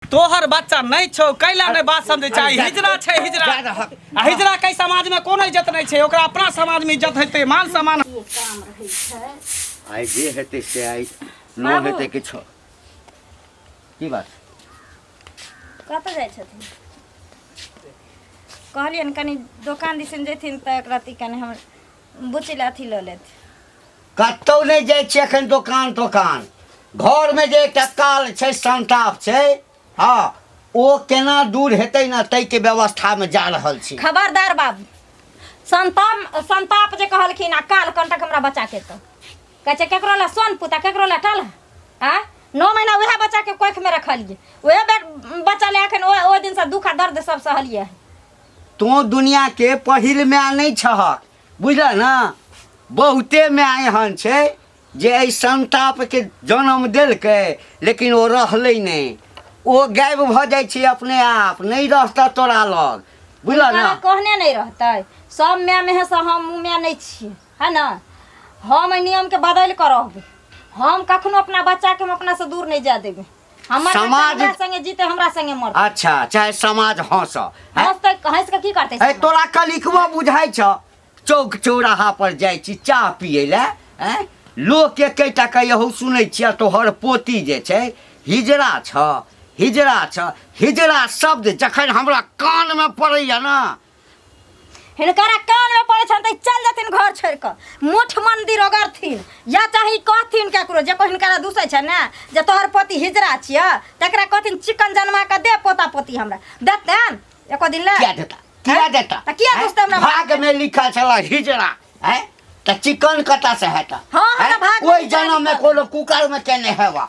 तोहर बच्चा नहीं छौ कैला नहीं बात समझे चाही हिजरा छै हिजरा आ हिजरा कै समाज में कोनो इज्जत नहीं छै ओकरा अपना समाज में इज्जत हेतै मान सम्मान आइ जे हेतै से आइ न हेतै किछो की बात कतऽ जाइ छथिन कहलियनि कनि दोकान दिसन जेथिन तऽ एक रत्ती कनि हमर बुच्ची लए अथी लऽ लेत कतहु नहि जाइ छियै एखन दोकान तोकान घरमे जे एकटा काल छै संताप छै हँ ओ केना दूर हेतै ने ताहिके व्यवस्थामे जा रहल छी खबरदार बाबू संताप संताप जे कहलखिन आ काल कंटक हमरा बच्चाके तऽ कहै छै ककरो लए सोन पुता ककरो लए काल आ नओ महीना उएह बच्चाके कोखिमे रखलियै उएह बे- बच्चा लए एखन ओ ओहि दिनसँ दुख आ दर्द सब सहलियै तों दुनिया के पहिल माय नहीं छह बुझल ना बहुते माय एहन छै जे एहि संताप के जन्म देलकै लेकिन ओ रहलै नहीं ओ गायब भऽ जाइ छै अपने आप नहीं रहता तोरा लग बुझल ना कहने नहीं रहतै सब माय में है से हम माय नहीं छियै है ना हम एहि नियम के बदल कर रहबे हम कखनो अपना बच्चा के हम अपना से दूर नहीं जा देबे हमर बच्चा समाज- हमरा संगे जीते हमरा संगे मर अच्छा चाहे समाज हंस है हंस तक हंस के की करते ए समाज? तोरा कलिकवा बुझाइ छ चौक चौराहा पर जाइ छी चाह पिए ले हैं लोग के कैटा कहू सुनै छियै तोहर पोती जे छै हिजड़ा छ हिजड़ा छ हिजड़ा शब्द जखन हमरा कान में पड़ैया ना हिनकरा कान में पड़े छन त ई चल जथिन घर छोड़ के मुठ मंदिर ओगरथिन या चाहे कहथिन केकरो जे कोई हिनकरा दूसै छै ने जे तोहर पोती हिजरा छिय तकरा कहथिन चिकन जनमा के दे पोता पोती हमरा देतन एको दिन ले क्या देता क्या देता त किया हैं? दोस्त हमरा भाग में लिखा चला हिजड़ा है त चिकन कटा से है त हाँ, हाँ, हैं? भाग में ओई लिखा जन्म में लिखा। कोनो कुकर में केने हेवा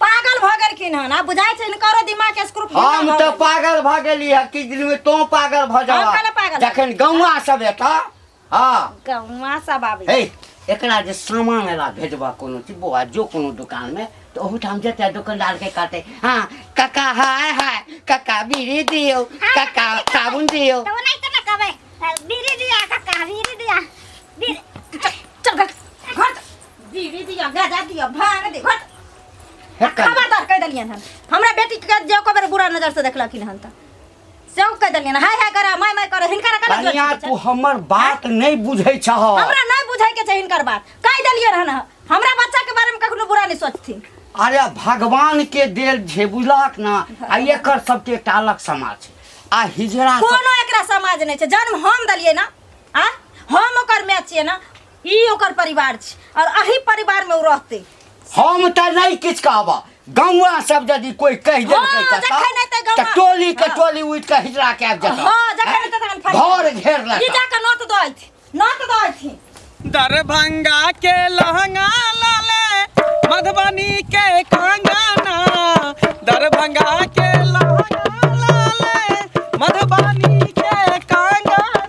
पागल भऽ गेलखिन हन आ बुझाइ छै हिनकरो दिमाग के स्क्रू फूटल हम भऽ तऽ गेल। पागल भऽ गेली है किछु दिन में तो पागल भऽ हम जावा कहले पागल। जखन गौवा सब एता हाँ गौवा सब आबै हे एकरा जे सामान एला भेजबा कोनो चीज बौआ जो कोनो दुकान में तो ओहूठाम जेतै दुकानदार के कहतै हाँ काका हाय हाय काका बीड़ी दियो काका साबुन दियो तो नहीं तो ना कबे बीड़ी दिया काका बीड़ी दिया बीड़ी चल घर दीदी दिया गाजा दिया भांग दे घट हेक कर खबरदार कह देलियन हन हमरा बेटी के जे को बेर बुरा नजर से देखलखिन हन त से कह देलियन हाय हाय करा माय माय करा हिनकर कला जोर कनिया से तू पूछे। हमर बात नहीं बुझै छह हमरा नहीं बुझाई के छै हिनकर बात कह देलियन हन हमरा बच्चा के बारे में कखनो बुरा नहीं सोचथिन अरे भगवान के देल छै बुझलक ना आ एकर सबके एकटा अलग समाज छै आ हिजड़ा सब कोनो एकरा समाज नहीं छै जन्म हम देलियै ना आ हम ओकर मैच छियै ना ई ओकर परिवार छी और अही परिवार में उ रहते हम त नहीं किछ कहबा गौवा सब यदि कोई कह देलकै हाँ, कता जखन नहीं त गौवा- त टोली के हाँ। टोली उठ के हिजरा के आबि जता हां जखन नहीं त तखन फट घर घेर ई लेता जाके नोट दो थी नोट दो थी दरभंगा के लहंगा लाले मधुबनी के कंगना दरभंगा के लहंगा लाले मधुबनी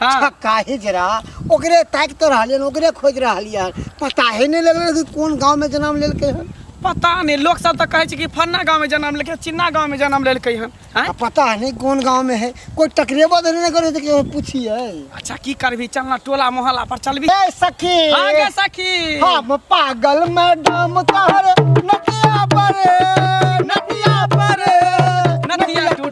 हाँ। छक काहे जरा ओकरे ताकि तो रहलिए ओकरे खोज रहलिए पता ही नहीं लगल कि कौन गांव में जन्म लेलके हन पता नहीं लोग सब तो कहे छे कि फन्ना गांव में जन्म लेके चिन्ना गांव में जन्म लेलके हन हैं? आ पता नहीं कौन गांव में है कोई टकरेबो तो नहीं करे तो केहू पूछिए अच्छा की करबी चलना टोला मोहल्ला पर चलबी ए सखी हाँ गे सखी हम पागल मैडम तहर नदिया पर नदिया पर नदिया टूट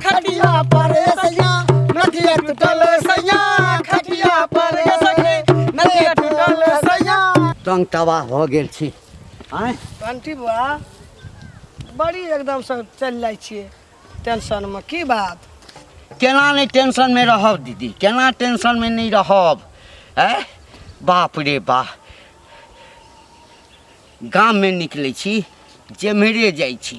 खटिया पर ए सैया नदिया टूटल ए सैया खटिया पर ए सखी नदिया टूटल ए सैया तंग तबाह भऽ गेल छी आँय आंटी बुआ बड़ी एकदम से चलि जाइ छियै टेंशनमे की बात केना नहि टेंशनमे रहब दीदी केना टेंशनमे नहि रहब आँय बाप रे बाप गाममे निकलै छी जेम्हरे जाइ छी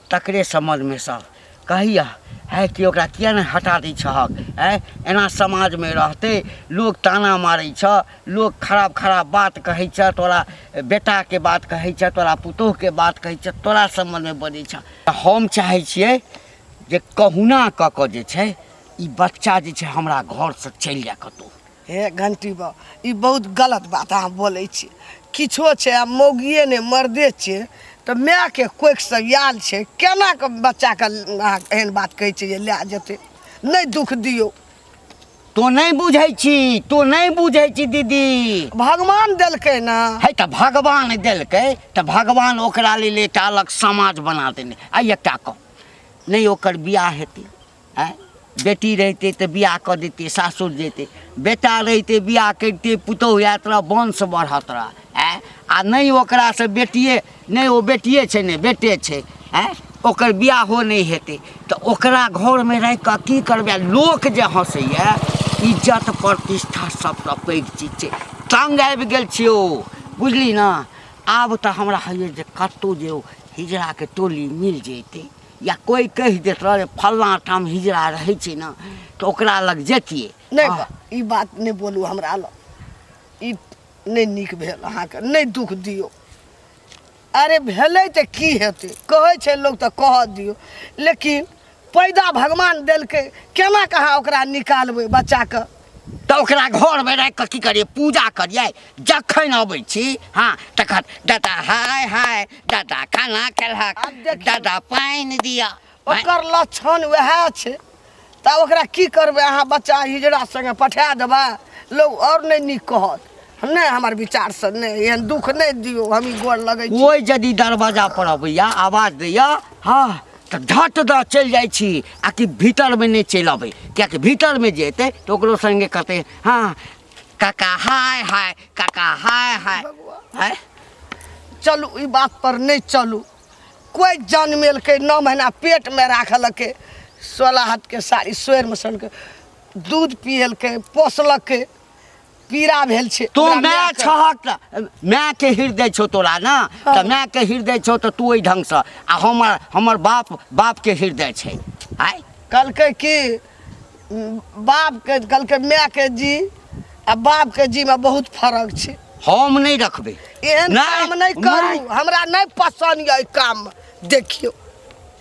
तकरे समझमे सब कहैया आइ कि ओकरा किया नहि हटा दै छहक आइ एना समाजमे रहतै लोक ताना मारै छह लोक खराब खराब बात कहै छह तोरा बेटाके बात कहै छह तोरा पुतोहके बात कहै छह तोरा समझमे बजै छह हम चाहै छियै जे कहुना कऽ कऽ जे छै ई बच्चा जे छै हमरा घरसँ चलि जाय कतहु हे घंटी बा ई बहुत गलत बात अहाँ बोलै छी किछो छै आ मौगिए नहि मर्दे छै तऽ मायके कोखिसँ आयल छै केना कऽ बच्चाके अहाँ एहन बात कहै छै जे लए जेतै नहि दुख दियौ तो नहि बुझै छी तो नहि बुझै छी दीदी भगवान देलकै ने है तऽ भगवान देलकै तऽ भगवान ओकरा लेल एकटा अलग समाज बना देने आ एकटा कह नहि ओकर बियाह हेतै आँय बेटी रहितै तऽ बियाह कऽ दैतै सासुर जैतै बेटा रहितै बियाह करितै पुतहु आएत तोरा वंश बढ़त तोरा आँय आ नहि ओकरासँ बेटिए नहि ओ बेटिए छै नहि बेटे छै आँय ओकर बियाहो नहि हेतै तऽ ओकरा घरमे राखि कऽ की करबै लोक जे हँसैए इज्जत प्रतिष्ठा सभसँ पैघ चीज छै तंग आबि गेल छियौ बुझली ने आब तऽ हमरा होइए जे कतहु जे ओ हिजड़ाके टोली मिल जैतै या कोई कहि देत रहे फल्लाँ ठाम हिजड़ा रहै छै ने तऽ ओकरा लग जैतियै नहि आह, बा- ई बात नहि बोलू हमरा लग ई नहि नीक भेल अहाँके नहि दुख दियौ अरे भेलै तऽ की हेतै कहै छै लोक तऽ कहऽ दियौ लेकिन पैदा भगवान देलकै केना कहाँ ओकरा निकालबै बच्चाके तऽ ओकरा घरमे राखि कऽ की करियै पूजा करियै जखन अबै छी हँ तखन दादा हाय हाय दादा खाना खेलहक दादा पानि दिअ ओकर लक्षण वएह छै तऽ ओकरा की करबै अहाँ बच्चा हिजड़ा सङ्गे पठा देबै लोक आओर नहि नीक कहत नहि हमर विचार से नहि एहन दुख नहि दियो हम ई गोर लगै छी कोई यदि दरवाजा पर अबैया आवाज दैया हाँ तऽ धट दऽ चलि जाइ छी आ कि भीतर में नहि चलि अबै कियाकि भीतर में जे एतै तऽ ओकरो संगे कहतै हाँ काका हाय हाय काका हाय हाय हाय चलू ई बात पर नहि चलू कोई जनमेलकै नौ महीना पेट में राखलकै सोलह हाथ के साड़ी सोर में सन के दूध पियलकै पोसलकै पीड़ा भेल छै तू हमरा माय मायके- छहक तऽ मायके हृदय छौ तोरा ने तऽ हँ। मायके हृदय छौ तऽ तू ओहि ढङ्गसँ आ हमर हमर बाप बापके हृदय छै आय कहलकै कि उम, बापके कहलकै मायके जी आ बापके जीमे बहुत फर्क छै हम नहि रखबै एहन नहि, काम नहि करू नहि। हमरा नहि पसन्द यऽ एहि काम देखियौ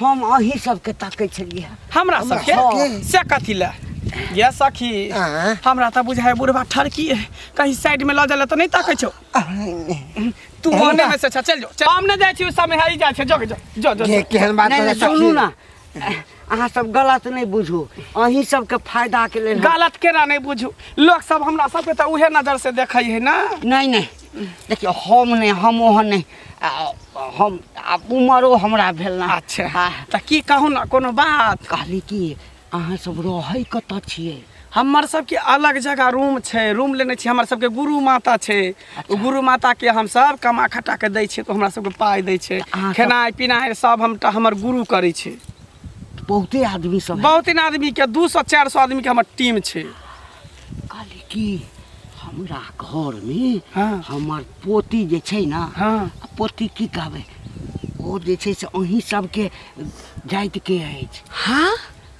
हम अहीं सबके ताकै छलियै हँ। हमरा हमरा सबके सबके? से कथी ले ये सखी आँय? हमरा तऽ बुझाय बुढ़वा ठरकी है कहीं साइड में लऽ जाला तऽ नहीं ताकै छौ तू ओने में से छ चल जो चल। हम ने जाइ छी उ समय हरी जाइ छै जो जो जो जो के केहन बात नहि बता नहि सुनू ना अहाँ सब गलत नहि बुझू अहीं सबके फायदा के लेल हम- गलत केना नहीं बुझू लोग सब हमरा सबके तऽ उहे नजर से देखै है ना नहीं नहीं देखियौ हम नहि हम ओहन नहि आ, हम आब उमरो हमरा भेल ना अच्छा आ, तऽ की कहू ने कोनो बात कहली कि अहाँ सब रहै कतऽ छियै हमर सबके अलग जगह रूम छै रूम लेने छी हमर सबके गुरु माता छै ओ गुरु माता के हम सब कमा खटा के दै छियै तऽ हमरा सबके पाइ दै छै अहाँ सब- खेनाइ पिनाइ सब हम टा हमर गुरु करै छै बहुते आदमी सब है। बहुत इन आदमी के दू सौ चार सौ आदमी के हमर टीम छै कहली कि हमरा घर में हाँ। हमर पोती जे छै ना हाँ। आ पोती की कहबै ओ जे छै से अहीं सबके जाति के अछि हाँ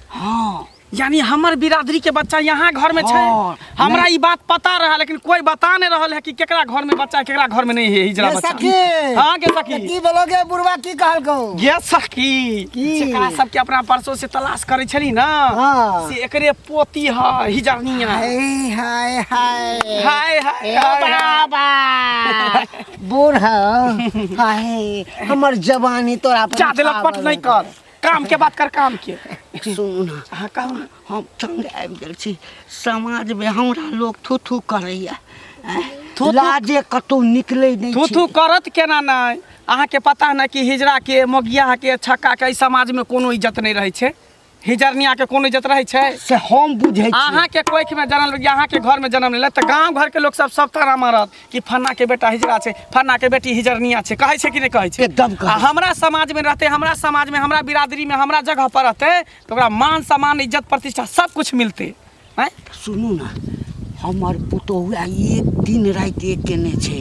हाँ यानी हमर बिरादरी के बच्चा यहाँ घर में छै हाँ, हमरा ई बात पता रहा लेकिन कोई बता नहीं रहल है कि केकरा घर में बच्चा है, केकरा घर में नहीं है हिजरा ये बच्चा सखी हाँ के सखी तऽ की बोलोगे बुढ़वा की कहलको ये सखी की? जेकरा सबके अपना परसों से तलाश करे छली ना हाँ। से एकरे पोती है हिजनिया हाय हाय हाय हाय हाय ए हाय, हाय। बाबा बूढ़ हो हाय हमर जवानी तोरा पर जादे लपट छावल नहीं कर काम के बात कर काम के है। सुन ना अहाँ कहू ना हम तंग आबि गेल छी समाज में हमरा लोग थू थू करैया थू-थू? लाजे कतौ निकलै नहि थू थू छी करत केना नहीं अहाँ के पता है ना कि हिजरा के मोगिया के छक्का के एहि समाज में कोनो इज्जत नहीं रहे छे हिजरनिया के कोनो इज्जत रहै छै से हम बुझै छी अहाँ के कोख में जन्म लेलिए अहाँ के घर में जन्म लेले त गांव घर के लोग सब सब ताना मारत कि फन्ना के बेटा हिजरा छै फन्ना के बेटी हिजरनिया छै कहै छै कि नहीं कहै छै एकदम कहै आ छै। हमरा समाज में रहते हमरा समाज में हमरा बिरादरी में हमरा जगह पर रहते तो ओकरा मान सम्मान इज्जत प्रतिष्ठा सब कुछ मिलते आँय सुनू ने हमर पुतोहु आ एक दिन राति एक केने छै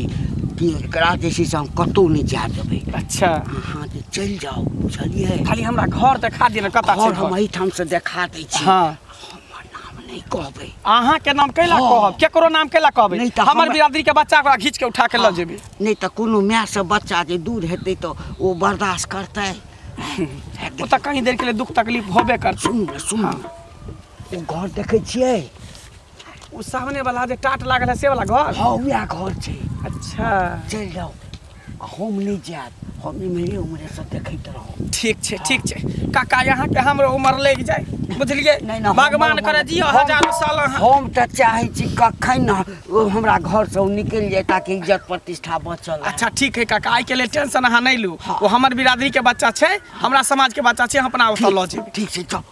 कि एकरा जे छै से हम कतहु नहि जाय देबै अच्छा अहाँ जे चलि जाउ बुझलियै खाली हमरा घर देखा दिअ ने कतऽ छै घर हम घर एहिठाम से देखा दै छी हँ हमर नाम नहि कहबै अहाँ के नाम कैला हँ। कहब केकरो नाम कैला कहबै नहि तऽ हमर हमरा- बिरादरी के बच्चा ओकरा घींच के उठा के लऽ जेबै नहि तऽ कोनो मायसँ बच्चा जे दूर हेतै तऽ ओ बर्दाश्त करतै ओ तऽ कहीं देर के लिए दुख तकलीफ होबे करतै सुन सुन ओ घर देखै छियै ओ सामने वाला जे टाट लागल है से वाला घर हँ वएह घर छै अच्छा चलि जाउ आ हम नहि जायब हम इम्हरे उम्हरे सब देखैत रहब ठीक छै ठीक छै काका यहाँ के हमरो उम्र लागि जाए बुझलिए नहि नहि भगवान हमर- करे जियो हम- हजार साल अहाँ हम तऽ चाहै छी कखन ने ओ हमरा घर से ओ निकलि जाए ताकि इज्जत प्रतिष्ठा बचल रहे। अच्छा ठीक है काका आई के लिए टेंशन अहाँ नहीं लू वो हमर बिरादरी के बच्चा छै हमरा समाज के बच्चा छै हम अपना ओतऽ लऽ जेबै ठीक छै चल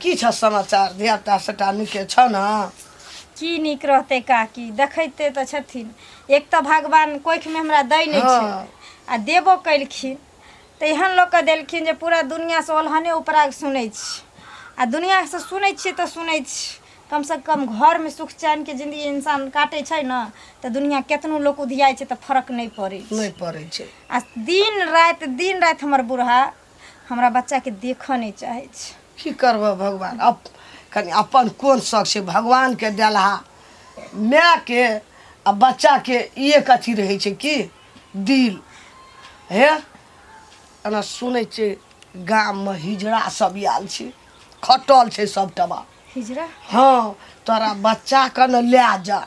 की छ समाचार धियापुता सबटा नीके छ न की नीक रहतै काकी देखैते तऽ छथिन एक तऽ भगवान कोखिमे हमरा दै नहि छै हँ। आ देबो केलखिन तऽ एहन लोक के देलखिन जे पूरा दुनियासँ ओलहने उपराग सुनै छी आ दुनियासँ सुनै छियै तऽ सुनै छी कमसँ कम घरमे सुख चैनके जिन्दगी इंसान काटै छै ने तऽ दुनिया केतनो लोक उधियाइ छै तऽ फर्क नहि पड़ै छै नहि पड़ै छै आ दिन राति दिन राति हमर बूढ़ा हमरा बच्चाके देखऽ नहि चाहै छै की करबह भगवान अप कनि अपन कोन शौक छै भगवानके देलहा मायके आ बच्चाके एक अथी रहै छै की दिल हे एना सुनै छै गाममे हिजड़ा सब आयल छै खटल छै सब टबा हिजरा हाँ तोरा बच्चा के न ले जा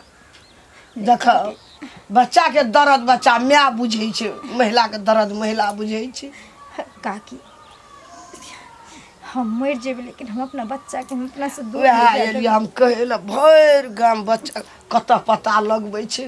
देख बच्चा के दर्द बच्चा माय बुझै छै महिला के दर्द महिला बुझै छै काकी हम मर जेबै लेकिन हम अपना बच्चा के हम अपना से दूर उएह नहि जाय देबै। एलियै हम कहै लए भरि गाम बच्चा कतऽ पता लगबै छै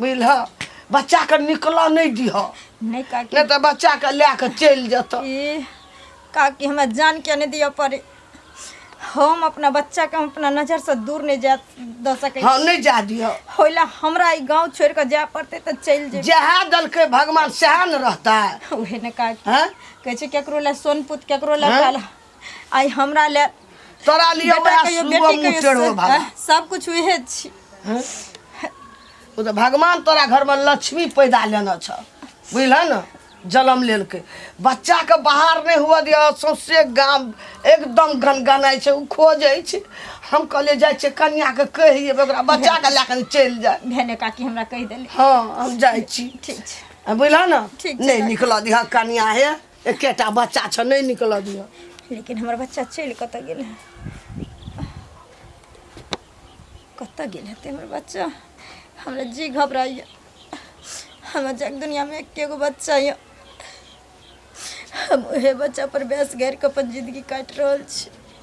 बुझलह बच्चाके निकलऽ नहि दिहऽ नहि काकी नहि तऽ बच्चाके लए कऽ चलि जेतऽ ई काकी हमरा जान किया नहि दिअ पड़े हम अपना बच्चाके हम अपना नजरसँ दूर नहि जा दऽ सकै हँ नहि जा दिहऽ होय लए हमरा ई गाँव छोड़ि कऽ जाय पड़तै तऽ चलि जेबै जएह देलकै भगवान सएह ने रहतै उहे ने काकी हँ कहै छै केकरो लए सोन पुत केकरो लए हँ? काला आइ हमरा ले तोरा लिए बेटा वएह कहियो सुबह बेटी मुँह कहियो टेढ़ो से- भाला आह, सब कुछ उहे छी हैं? ओ तऽ भगवान तोरा घरमे लक्ष्मी पैदा लेने छ बुझल ने जन्म लेलकै बच्चाके बाहर नहि हुअ दिअ सौंसे गाम एकदम गनगनाइ छै ओ खोजै छै हम कहलिए जाइ छियै कनियाके कहि देबै ओकरा बच्चाके लए कऽ चलि जाय भेने काकी हमरा कहि देली हँ हम जाइ छी ठीक छै आ बुझल ने ठीक छै, नहि निकलऽ दिह कनिया हे एकेटा बच्चा छ नहीं निकल दियो लेकिन हमर बच्चा चल कत गेल है कत गेल है हमर बच्चा हमरा जी घबराइए हमरा जग दुनिया में एके गो बच्चा है हम उहे बच्चा पर बेस घेर के अपन जिंदगी काट रहल छी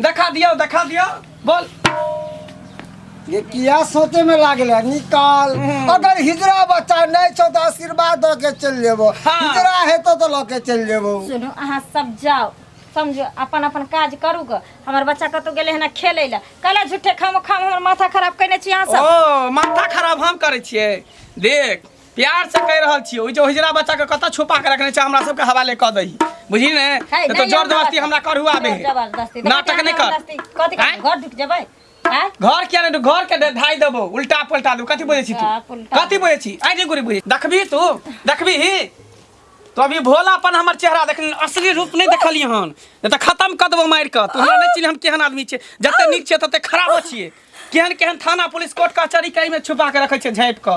देखा दियो देखा दियो बोल ये किया सोचे में लागल है निकाल हम्म। अगर हिजरा बच्चा नहीं छो तो आशीर्वाद दो के चल जेबो हाँ। हिजरा है तो तो लोके चल जेबो सुनू अहाँ सब जाओ समझो अपन अपन काज करू ग हमर बच्चा कतौ गेले हन खेले ला कला झूठे खाम खाम हमर माथा खराब कइने छी अहाँ सब ओ माथा खराब हम करे छिए देख प्यार से कह रहल छियै ओहि जे ओहिजरा बच्चा के कतऽ छुपा के रखने छै हमरा सबके हवाले कऽ दही बुझी ने है, तऽ नहीं, जोर हम जबरदस्ती जबरदस्ती- हमरा करहुआ बे जबरदस्ती नाटक नहीं कर जबरदस्ती। कथी आँय? कर घर ढुक जेबै आँय? घर किया ने घर के दे- धाइ देबो उल्टा पलटा देबो कथी बुझै छी तू उल्टा पलटा। कथी बुझै छी आइ जे गुरी बुझै देखबी तू देखबी ही तो अभी भोलापन हमर चेहरा देख असली रूप नहीं देखली हन नहीं तो खत्म कर देबो मारि कऽ तू हमरा नहीं चिन्ह हम केहन आदमी छियै जते नीक छियै तते खराबो छियै केहन केहन थाना पुलिस कोर्ट कचहरी के एहिमे छुपा के रखै छै झाँपि कऽ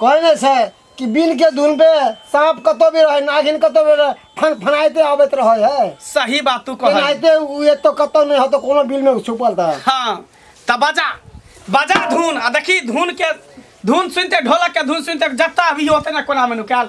कहने छै कि बिन के धुन पे सांप कतो भी रहे नागिन कतो भी रहे फन फनाइते आबैत रहे है सही बात तू कहल फनाइते उ ये तो कतो नहीं हो तो कोनो बिल में छुपल था हाँ त बजा बजा धुन आ देखी धुन के धुन सुनते ढोलक के धुन सुनते जत्ता अभी होते ना कोना में नुकाल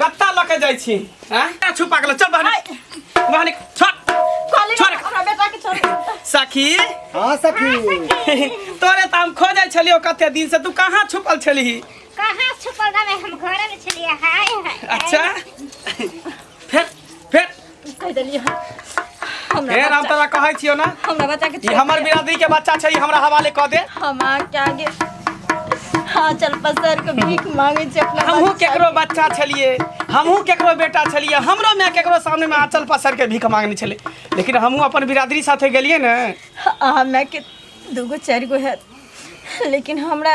कत्ता लऽ के जाइ छी हैं छुपा गेल चल बहन बहन छोड़ कहली छोड़। ना, हमरा बेटा के छोड़ दे। सखी हाँ सखी तोरे त हम खोजै छलियो कते दिन से तू कहाँ छुपल छलही कहाँ छुपल रहबै हम घरे में छलियै हाय हाय अच्छा फेर फेर कह देली हम हे हमरा राम बच्चा- तोरा कहै छियो ना हमरा बच्चा के ई छोड़ हमर दे। बिरादरी के बच्चा छै ई हमरा हवाले कऽ दे हम आके आगे हाँ चल पसर के भीख मांगे छै अपना हमहूँ बच्चा केकरो बच्चा छलिए हमहूँ केकरो बेटा छलिए हमरो माय केकरो सामने में आँचल पसर के भीख मांगने छलै लेकिन हमहूँ अपन बिरादरी साथे गेलिए ने के। आ हमरा के दूगो चारि गो है लेकिन हमरा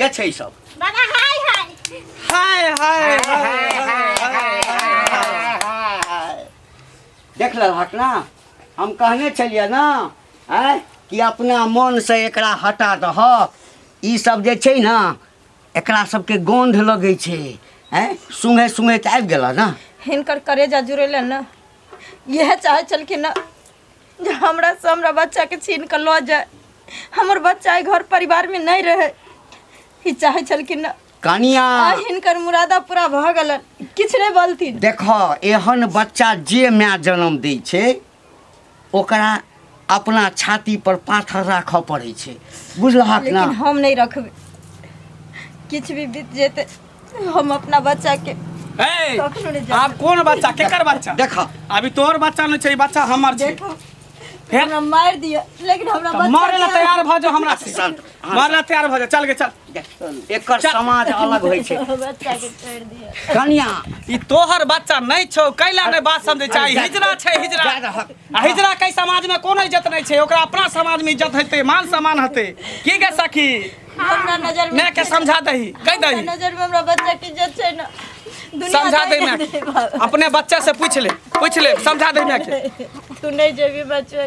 के छै सब बाबा हाय हाय हाय हाय हाय देख लेलहक ना हम कहने छलियै ना आँय कि अपना मोनसँ एकरा हटा दहक ई सब जे छै ने एकरा सबके गंध लगै छै हैं सुंघे सुंघे त आबि गेला ना हिनकर करेजा जुड़ेले न इएह चाहे छलखिन न जे हमरा से हमरा बच्चा के छीन के लऽ जाए हमर बच्चा एहि घर परिवार में नहीं रहे ई चाहे छलखिन न कनिया आ हिनकर मुरादा पूरा भऽ गेलन किछु नहि बोलथिन देखऽ एहन बच्चा जे माय जन्म दै छै ओकरा अपना छाती पर पाथर राखऽ पड़ै छै बुझलहक लेकिन ने हम नहीं रखबे किछ भी बीत जेते हम अपना बच्चा के ए, कखनो नहि जायब। आब कोन बच्चा केकर बच्चा देख अभी तोहर बच्चा नहीं छै ई बच्चा हमर छै देखो फेर हमरा मार दिया लेकिन हमरा तऽ बच्चा मारे ला के- तैयार भऽ जाओ हमरा से शांत मारना तैयार भऽ जा चल गे चल एकर समाज अलग होइ छै बच्चा के छोड़ दिया कन्या ई तोहर बच्चा नहीं छौ कैला ने बात समझे चाही हिजरा छै हिजरा आ हिजरा के समाज में कोनो इज्जत नहीं छै ओकरा अपना समाज में इज्जत हेतै मान सम्मान हेतै की गे सखी हमरा नजर में माय के समझा दही कह हमरा दही नजर में हमरा बच्चा के इज्जत छै ना दुनिया समझा दे माय के अपने बच्चा से पूछ ले पूछ ले समझा दे माय के तू नहीं जेबी बच्चा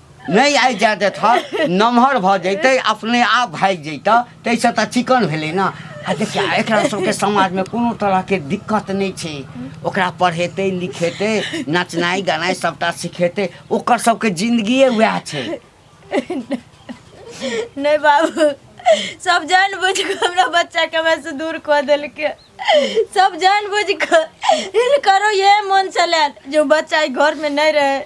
नहि आइ जाए देतह नमहर भऽ जैतै अपने आप भागि जैतह ताहिसँ तऽ चिकन भेलै ने आ देखिया एकरा सबके समाजमे कोनो तरहके दिक्कत नहि छै ओकरा पढ़ेतै लिखेतै नचनाइ गनाइ सभटा सिखेतै ओकर सबके जिन्दगिए वएह छै नहि बाबू सब जान बुझ के हमरा बच्चा के हमरा से दूर कऽ देलकै सब जान बुझ के करो ये मन से लायल जो बच्चा घर में नहीं रहे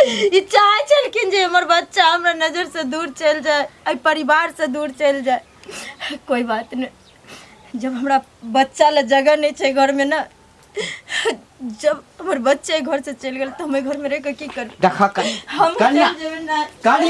ई चाहै छलखिन जे हमर बच्चा हमरा नजर से दूर चल जाए एहि परिवार से दूर चल जाए कोई बात नहीं जब हमरा बच्चा ला जगह नहीं छै घर में ना जब हमर बच्चे घर से चल गेल तो हम घर में रह के की कर देखा हम कन्या चल जेबै ना कन्या